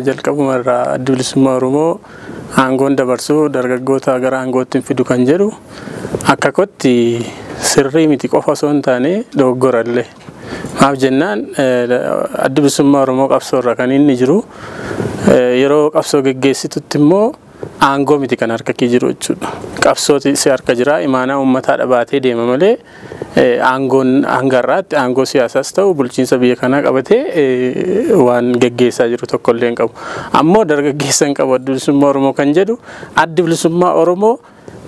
Jalqabuma irraa addi bilisummaa Oromoo aangoon dabarsuu dargaggoota gara aangootti hin fidu kan jedhu akka kotti sirrii miti qofa osoo hin taane dogoggorallee. Maaf jennaan addi bilisummaa Oromoo qabsoo irra kan inni jiru yeroo qabsoo geggeessitutti immoo Aangoo miti kan harka kee jiru jechuudha. Qabsooti si harka jira. Imaanaa uummataa dhabaatee deema malee aangoon hanga har'aatti aangoo siyaasaas ta'u bulchiinsa biyya kanaa qabatee waan geggeessaa jiru tokkollee hin qabu. Ammoo dargaggeessa hin qabu addi bilisummaa Oromoo kan jedhu addi bilisummaa Oromoo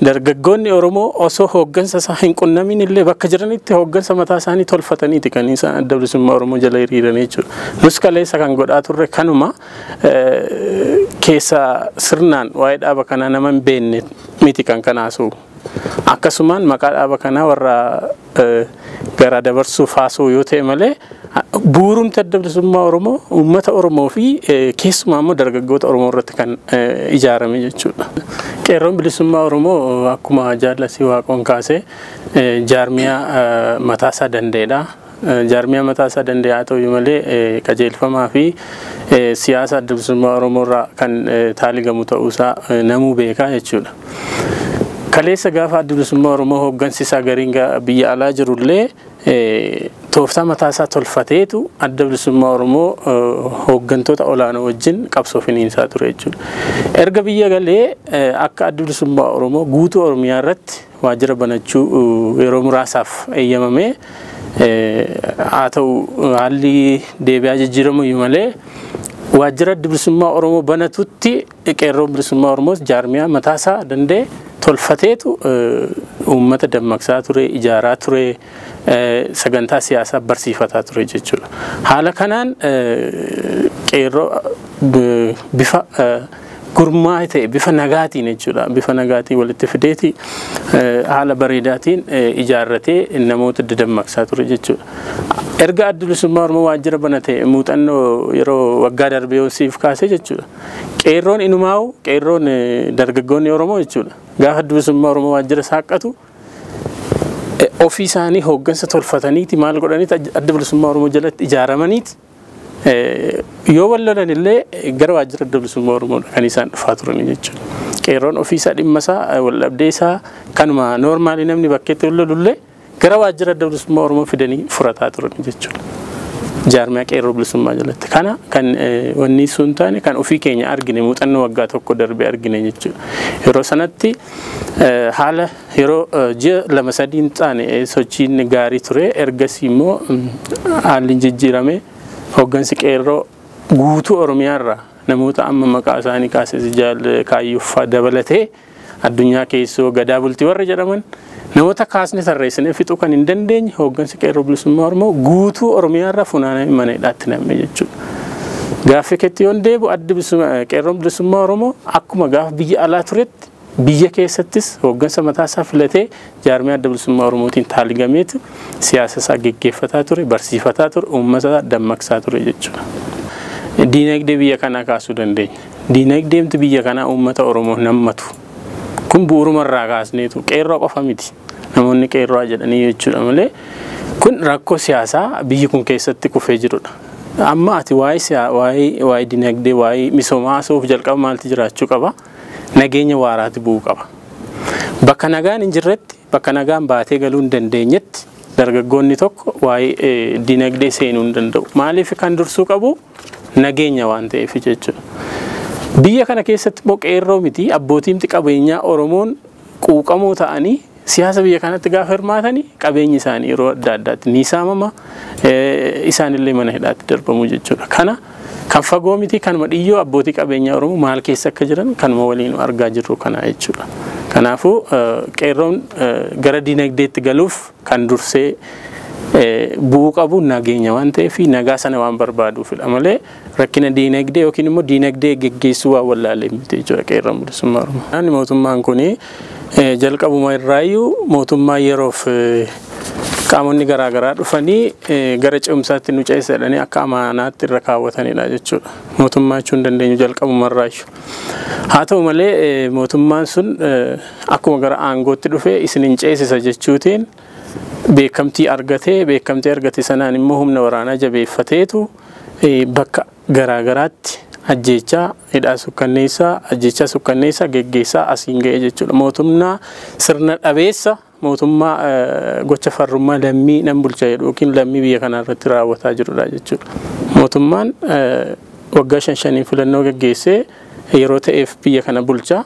Dargaggoonni Oromoo osoo hooggansa isaa hin qunnamiin illee bakka jiranitti hooggansa mataa isaanii tolfataniiti kan isaan adda bilisummaa Oromoo jala hiriiranii jechuudha. Nus kaleessa kan godhaa turre kanuma keessa sirnaan waa'ee dhaaba kanaa nama hin beekne miti kan kanaasuu. Akkasumaan maqaa dhaaba kanaa warra garaa dabarsuuf haasa'u yoo ta'e malee bu'uurumti adda bilisummaa Oromoo uummata Oromoo fi keessumaa immoo dargaggoota Oromoo irratti kan ijaarame jechuudha. Qeerroon bilisummaa Oromoo akkuma jaallasii waaqoon kaasee jaarmiyaa mataasaa danda'edha. Jaarmiyaa mataasaa danda'e haa ta'u malee qajeelfamaa fi siyaasa adda bilisummaa Oromoo irraa kan taaligamu ta'uusaa namuu beekaa jechuudha. Kaleessa gaafa addi bilisummaa Oromoo hooggansi isaa gariin biyya alaa jirullee tooftaa mataa isaa tolfateetu adda bilisummaa Oromoo hooggantoota olaanoo wajjin qabsoo finiinsaa ture jechuudha. Erga biyya galee akka addi bilisummaa Oromoo guutuu Oromiyaa irratti waajjira banachuu yeroo muraasaaf eeyyamamee haa ta'u haalli deebi'aa jijjiiramu iyyuu malee waajjira adda bilisummaa Oromoo banatutti Qeerroon Bilisummaa Oromoos jaarmiyaa mataasaa danda'e tolfateetu uummata dammaqsaa ture, ijaaraa ture, sagantaa siyaasaa barsiifataa ture jechuudha. Haala kanaan qeerroo bifa gurmaa'e ta'e bifa nagaatiin jechuudha. Bifa nagaatiin walitti fideeti haala bareedaatiin ijaarratee namoota dadammaqsaa ture jechuudha. Erga adda bilisummaa Oromoo waajjira banate muuxannoo yeroo waggaa darbee siif kaasee jechuudha. Qeerroon inumaa'u qeerroon dargaggoonni Oromoo jechuudha. Gaafa addi bilisummaa Oromoo waajjira saaqqatu ofii isaanii hooggansa tolfataniiti maal godhaniiti adda bilisummaa Oromoo jalatti ijaaramaniiti yoo wal lolan illee gara waajjira adda bilisummaa Oromoo kan isaan dhufaa turanii jechuudha. Qeerroon ofiisaa dhimmasaa wal dhabdeesaa kanuma noormaalii namni bakkeetti wal lolullee Gara waajjira adda bilisummaa Oromoo fidanii furataa turan jechuudha. Jaarmiyaa qeerroo bilisummaa jalatti. Kana kan wanni sun taane kan ofii keenya argine muuxannoo waggaa tokko darbe argine jechuudha. Yeroo sanatti haala yeroo ji'a lama sadiin taane sochiin gaarii ture. Ergasii immoo haalli jijjiirame hooggansi qeerroo guutuu Oromiyaarraa namoota amma maqaa isaanii kaasee jaal kaayyuffaa dabalatee Addunyaa Keessoo, Gadaa Bultii warri jedhaman namoota kaasne tarreessinee fixuu kan hin dandeenye hooggansi Qeerroo Bilisummaa Oromoo guutuu Oromiyaarra funaanamee mana hidhaatti nam'e jechuudha. Gaaffii keetti yoon deebi'u addi Qeerroon Bilisummaa Oromoo akkuma gaafa biyya alaa turetti biyya keessattis hooggansa mataasaa filatee Jaarmiyaa Adda Bilisummaa Oromootiin taaligameetu siyaasa isaa geggeeffataa ture, barsiifataa ture, uummata isaa dammaqsaa ture jechuudha. Diinagdee biyya kanaa kaasuu dandeenya. Diinagdeemti biyya kanaa uummata Oromoo nammatu. Kun bu'uruma irraa kaasneetu qeerroo qofa miti. Namoonni qeerroo jedhanii jechuudha malee kun rakkoo siyaasaa biyyi kun keessatti kufee jirudha. Amma ati waa'ee dinagdee waa'ee misoomaa haasa'uuf jalqaba maalti jiraachuu qaba? nageenya waaraati bu'uu qaba. Bakka nagaan hin jirretti, bakka nagaan baatee galuu hin dandeenyetti dargaggoonni tokko waa'ee dinagdee seenuu hin danda'u. Maaliif kan dursuu qabu nageenya waan ta'eef jechuudha. Biyya kana keessatti immoo qeerroo miti abbootiimti qabeenyaa Oromoon quuqamoo ta'anii Siyaasa biyya kanatti gaafa hirmaatan qabeenyi isaanii yeroo adda addaatti ni saamama, isaanillee mana hidhaatti darbamu jechuudha. Kana kan fagoo miti kanuma dhiyyoo abbootii qabeenyaa Oromoo maal keessa akka jiran kanuma waliin argaa jirru kana jechuudha. Kanaafuu qeerroon gara dinagdeetti galuuf kan dursee bu'uu qabu nageenya waan ta'eef nagaa sana waan barbaaduufidha malee Rakkina diinagdee yookiin immoo diinagdee geggeessuu waan wallaalee miti jechuudha qeerroon bilisummaa Oromoo. Naanni mootummaan kun jalqabuma irraayyuu mootummaa yeroof qaamonni garaa garaa dhufanii gara ce'umsaatti nu ceessa jedhanii akka amaanaatti irra kaawwatanidha jechuudha. Mootummaa jechuun dandeenyu jalqabuma irraayyuu. Haa ta'u malee mootummaan sun akkuma gara aangootti dhufe isin hin ceesisa jechuutiin beekamtii argatee beekamtii argate sanaan immoo humna waraanaa jabeeffateetu bakka garaa garaatti ajjeechaa, hidhaa sukkanneessaa, ajjeechaa sukkanneessaa geggeessaa asiin ga'e jechuudha. Mootummaa sirna dhabeessa mootummaa gocha farrummaa lammii nan bulcha jedhu yookiin lammii biyya kanaa irratti raawwataa jirudha jechuudha. Mootummaan waggaa shan shaniin filannoo geggeessee yeroo ta'eef biyya kana bulcha.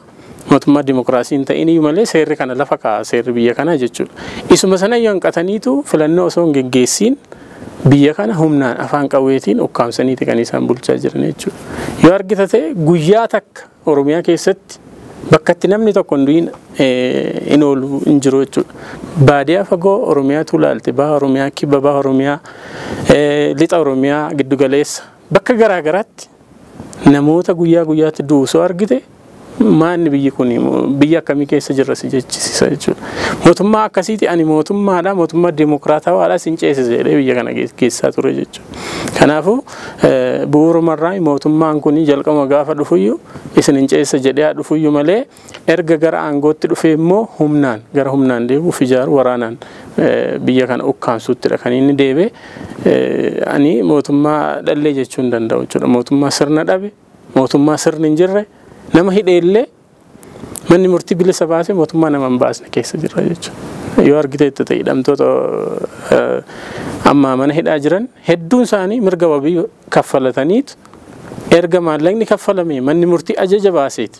Mootummaa dimokiraasii hin ta'in iyyuu malee seerri kana lafa kaa'a seerri biyya kanaa jechuudha. Isuma sana iyyuu hanqataniitu filannoo osoo hin geggeessiin biyya kana humnaan afaan qawweetiin ukkaamsaniiti kan isaan bulchaa jiran jechuudha. Yoo argita ta'e guyyaa takka Oromiyaa keessatti bakka itti namni tokko hin du'in hin oolu hin jiru jechuudha. Baadiyaa fagoo Oromiyaatu ilaalte baha Oromiyaa kibba baha Oromiyaa lixa Oromiyaa giddugaleessa bakka garaa garaatti Namoota guyyaa guyyaatti du'u osoo argite maanni biyyi kun biyya akkamii keessa jirra si jechisisa jechuudha. Mootummaa akkasiiti ani mootummaadha mootummaa deemokiraatawaadha sin ceesise jedhee biyya kana geessaa ture jechuudha. Kanaafuu bu'uurumarraa mootummaan kun jalqabuma gaafa dhufuyyuu isin hin ceesisa jedhee haa dhufuyyuu malee Erga gara aangootti dhufee immoo humnaan gara humnaan deebi'u of ijaaru waraanaan biyya kana ukkaamsuuttidha kan inni deebe. Ani mootummaa dhallee jechuu hin danda'u jechuudha. Mootummaa sirna dhabe, mootummaa sirni hin jirre, nama hidhee illee manni murtii bilisa baase mootummaa nama hin baasne keessa jirra jechuudha. Yoo argiteetta ta'e hidhamtoota amma mana hidhaa jiran hedduun isaanii mirga wabii kaffalataniitu erga maallaqni kaffalamee manni murtii ajaja baaseeti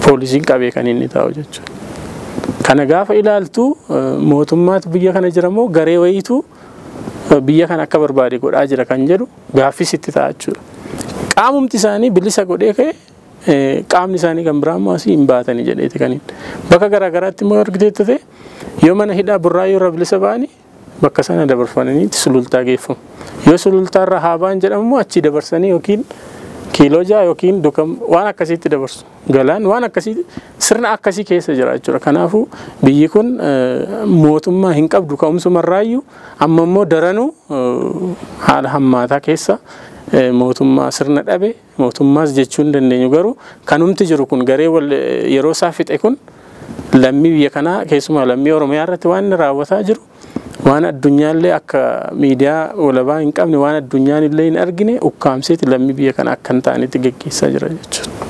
poolisiin qabee kan inni taa'u jechuudha. Kana gaafa ilaaltu mootummaatu biyya kana jira moo garee wayiitu biyya kana akka barbaade godhaa jira kan jedhu gaaffis itti ta'a jechuudha. Qaamumti isaanii bilisa godhee ka'e qaamni isaanii kan biraa immoo asii hin baatanii jedheeti kan bakka garaagaraatti immoo argiteetti ta'e yoo mana hidhaa burraa yoo irra bilisa ba'anii bakka sana dabarfamanii sulultaa geeffamu. Yoo sulultaa irraa haa ba'an jedhamu immoo achii dabarsanii yookiin kiiloo ja'a yookiin dukam waan akkasiitti dabarsu. Galaan waan akkasii sirna akkasii keessa jira jechuudha. Kanaafuu biyyi kun mootummaa hin qabdu ka'umsuma irraayyuu amma immoo daranuu haala hammaataa keessa mootummaa sirna dhabe Mootummaas jechuu hin dandeenyu. Garuu kanumti jiru kun garee wal yeroo isaa fixe kun lammii biyya kanaa keessumaa lammii Oromiyaa irratti waan inni raawwataa jiru waan addunyaallee akka miidiyaa walabaa hin qabne waan addunyaan illee hin argine ukkaamseeti lammii biyya kana akka hin taanetti geggeessaa jira jechuudha.